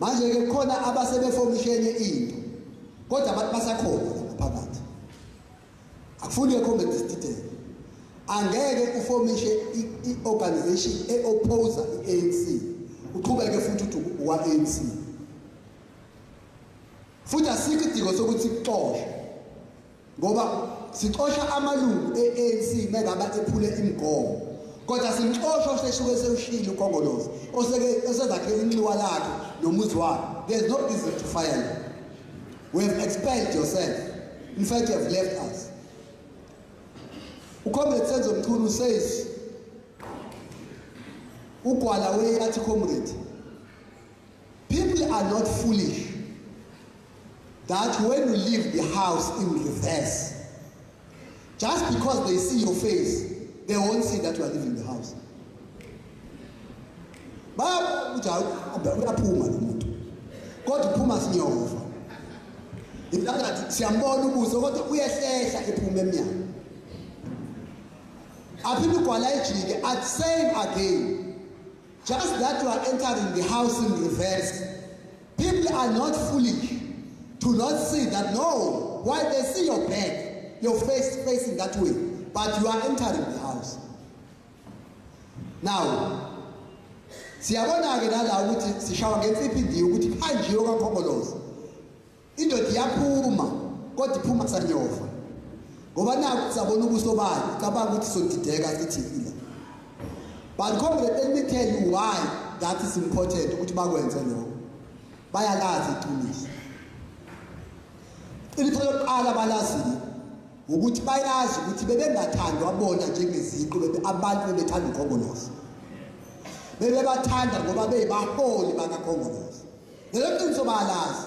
manje ke khona abasebefomishene into kodwa abantu basakhona ngaphakathi akufuni comment detail angeke ufomishe i-organization e-oppose i-ANC uqhubeke futhi uthi uwa-ANC futhi asikho idingo sokuthi kuxoshwe ngoba sixosha amalungu e-anc mengaba ephule imigomo kodwa simxosha osesuke sewushile ukongolozi osezakhela inxiwa lakhe nomuzi wakhe there's no reason to fire you we have expelled yourself in fact you have left us ucomrade senzo mchunu says ugwala weyathi comrade people are not foolish that when you leave the house in reverse, just because they see your face, they won't see that you are leaving the house. uyaphuma lo muntu kodwa uphuma sinyova intangathi siyambona ubuso kodwa uyehlehla ephuma emnyango aphinde ugwala ejike at same again just that you are entering the house in reverse People are not foolish to not see that no, why they see your back, your face facing that way, but you are entering the house. Now, siyabona-ke nala ukuthi sishawa ngensiphi ndiye ukuthi kuhanjiwe kwakhokoloza indoda iyaphuma kodwa iphuma sanyofa ngoba naku sabona ubuso bayo cabanga ukuthi sodideka sithile But comrade let me tell you why that is important ukuthi bakwenze lokho. Bayalazi iqiniso. Iqiniso lokuqala balazile ukuthi bayazi ukuthi bebengathandwa bona njengeziqu bebe abantu bebethanda ukhongolose. Bebebathanda ngoba beyibaholi bakakhongolose. Lelo qiniso bayalazi.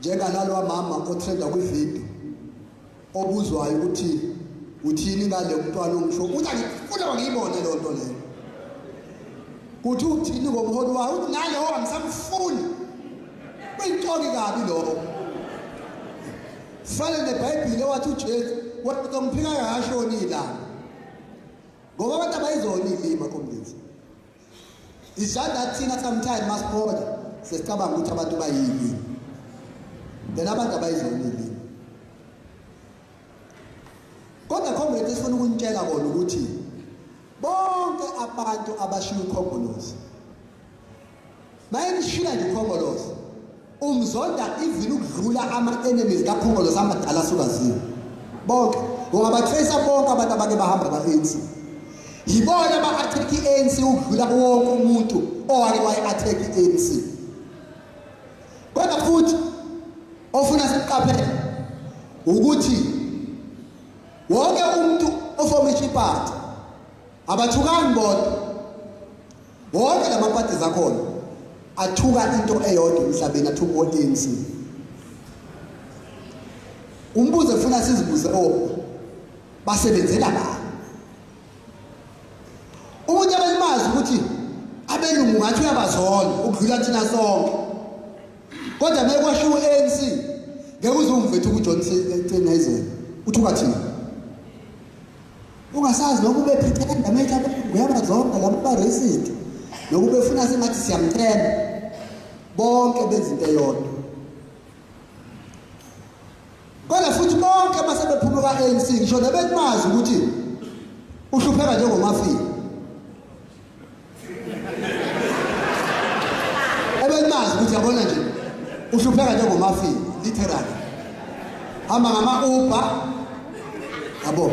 njenganalowa mama otrenda kwividiyo obuzwayo ukuthi uthini ngale mntwana ongisho ukuthi angifuna wangiyibone leyo nto leyo kuthi uthini ngomholi wayo ukuthi nalowo angisamfuni kuyintoki kabi lokho fane nebhayibhile wathi ujesu wathi ngomphika kashoni ilanga ngoba abantu abayizona iy'lima komlisa Isandla thina sometimes masiphola sesicabanga ukuthi abantu bayini. Then abantu abayizona yini. Kodwa comrade sifuna ukunitshela kona ukuthi bonke abantu abashiya ukhongolose Maye nishila nje uKhongolose. Umzonda even ukudlula ama enemies kaKhongolose amadala sukaziwe. Bonke ungaba tracer bonke abantu abake bahamba ba ANC. Yibona ba attack ANC ukudlula wonke umuntu owake wayi attack ANC. Kodwa futhi ofuna siqaphele ukuthi wonke umuntu ofoma iparty Abathukani bodwa. Wonke lama parties akhona athuka into eyodwa emhlabeni athuka uANC. Umbuzo efuna sizibuze o oh, basebenzela ba. Umuntu abelimazi ukuthi abelungu ngathi uyabazona ukudlula thina sonke. Kodwa mekwashiwo ANC ngeke uzumvethu kuJohnson eCenezela. Uthuka thina. ungasazi nokuba ephithenda make abelungu yabazonda laba ba-racist nokuba efuna sengathi siyamthemba bonke benza into eyodwa kodwa futhi bonke basebephuma kwa-anc ngisho nebekumazi ukuthi uhlupheka njengomafika ebelimazi ukuthi yabona nje uhlupheka njengomafini literally hamba ngama-uber yabo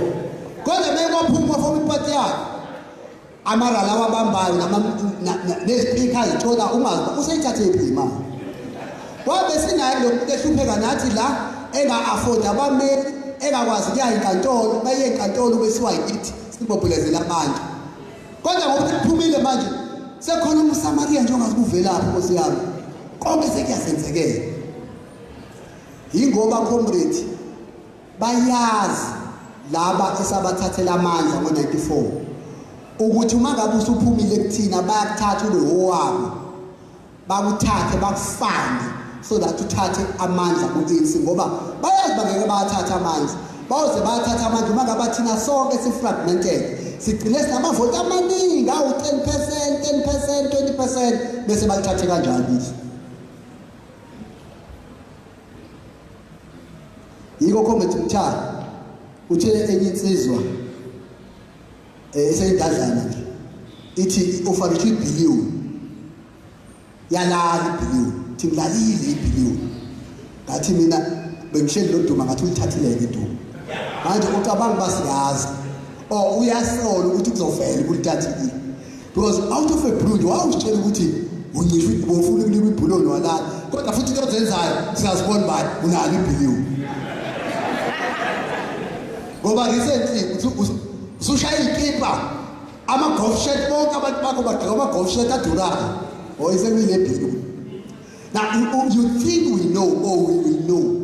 kodwa bekwaphuma foma ipati yakhe amarala awabambayo nezipikha zithola ungazi uba useyithathe iphi imali wabe sinaye lo muntu ehlupheka nathi la enga-afodi abameli engakwazi kuya enkantolo baye enkantolo besiwa yithi sibobhulezela abantu Kodwa ngoba sekuphumile manje sekhona umSamariya nje ongazi kuvelaphi Nkosi yami. Konke sekuyasenzekela. Yingoba comrade bayazi laba esabathathela amandla ngo-94 ukuthi uma ngabe usuphumile kuthina bayakuthatha ube wowabo bakuthathe bakufane so that uthathe amandla ku-ANC ngoba bayazi bangeke bawathathe amandla bayoze bawathathe amandla uma ngaba thina sonke si-fragmented sigcine sinamavoti amaningi awu-ten percent ten percent twenty percent bese balithathe kanjalo izwe yiko comrade mthara utshele enye insizwa eh iseyidazana nje ithi ufanele ibhiliwu yalala ibhiliwu thi ngilalile ibhiliwu ngathi mina bengihleli loduma ngathi ulithathileke iduma manje ucabanga uba siyazi or uyasola ukuthi kuzovela ukuthi thathile because out of a blue nje wawusitshela ukuthi uncishe ubofuna ukulima ibhuloni walala kodwa futhi into ozenzayo siyazibona bani unalo ibhiliwu ngoba recently uthi usushaya ikipa ama-golf shirt bonke abantu bakho bagqoka ama-golf shirt adurayo or isekulile bhiliwu now you think we know or we will know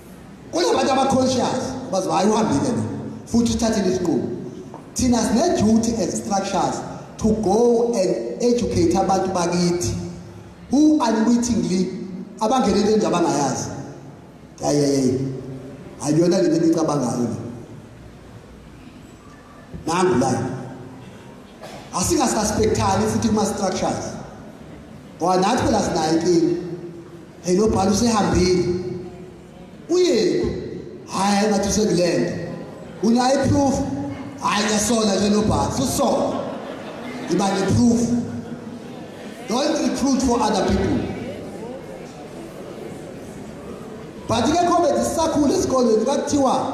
kunabantu aba-conscious bazi hhayi uhambile lo futhi uthathile isinqumo thina sine-duty as structures to go and educate abantu bakithi who unwittingly abangenele into abangayazi yayeyeye ayiyona lento engicabangayo le nangu la asingasuspectani futhi kuma-structures ngoba nathi phela sinayo inkinga hey lo bhalo usehambile uyephi hhayi ngathi usekulenda unayo iproof hhayi ngiyasola nje lo bhalo susola iba neproof don't recruit for other people but ke comedy sisakhula esikolweni kwakuthiwa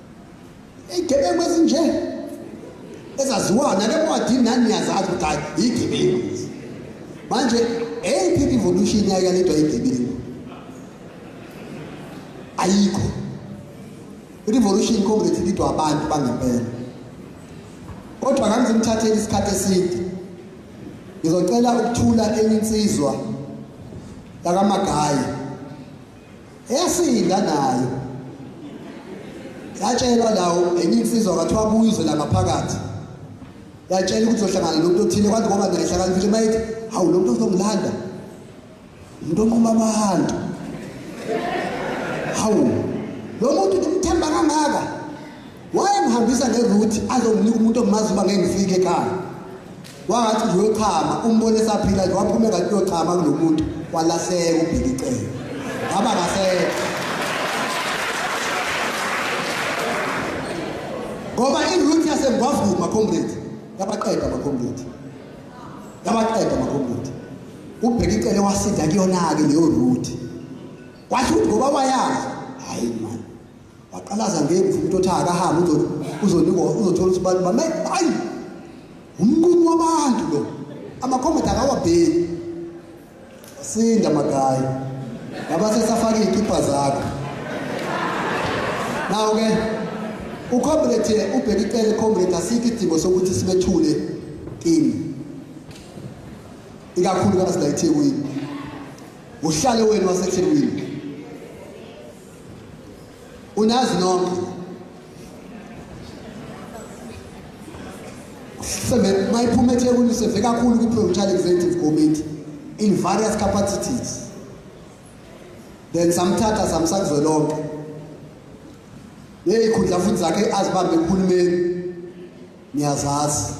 Igebengu ezinje ezaziwayo nale ncwadi nani niyazazi ukuthi hayi yigebengu lezi. Manje eyiphi evolution yayo yalethwa yigebengu? Ayikho. Revolution Congress lidwa abantu bangempela. Kodwa kangizimthatheli isikhathi eside. Ngizocela ukuthula enye insizwa yakamagayi Yasinda nayo. Yatshelwa lawo enye insizwa kwathiwa kuyizwe la ngaphakathi. Yatshela ukuthi uzohlangana nomuntu othile kwathi ngoba naye hlakani futhi mayithi hawu lo muntu uzongilanda. Umuntu onquma abantu. Hawu lo muntu ngimthemba kangaka. Wayengihambisa ngeroute azonginika umuntu omazi uba ngeke ngifike ekhaya. Wangathi nje uyochama umbone esaphila nje waphume kanti uyochama kulomuntu walahleka ubheka icele. Ngaba kahle. Ngoba iroute yaseMgwavuma comrade yabaqeda abacomrade. Yabaqeda abacomrade. Ubheka icele wasinda kuyona ke leyo route. Wathi ngoba wayazi hayi waqalaza ngemvu umuntu othi akahambe uzonikwa uzothola ukuthi abantu bame hayi umnqumo wabantu lo amakhomenti akawabheki sinda magayi ngaba sesafaka iy'kipha zakho nawo-ke ucomrade ubheke icele comrade asikho idingo sokuthi sibethule kini ikakhulukazi la ethekwini uhlale wenu wasethekwini unazi nonke sebe mayiphuma eThekwini seve kakhulu ku Provincial Executive Committee in various capacities then samthatha samsakuzwe lonke neyikhundla futhi zakhe azibambe kuhulumeni niyazazi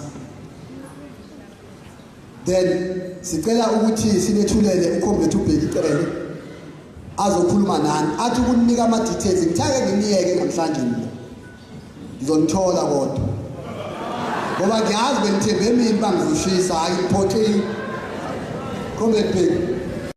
then sicela ukuthi sinethulele ucomrade ubheki cele azokhuluma nani athi ukunika ama-details ngithake nginiyeke namhlanje mina ngizonithola kodwa ngoba ngiyazi bengithembe emini uba ngizoshisa hhayi ngiphoxile comrade bheki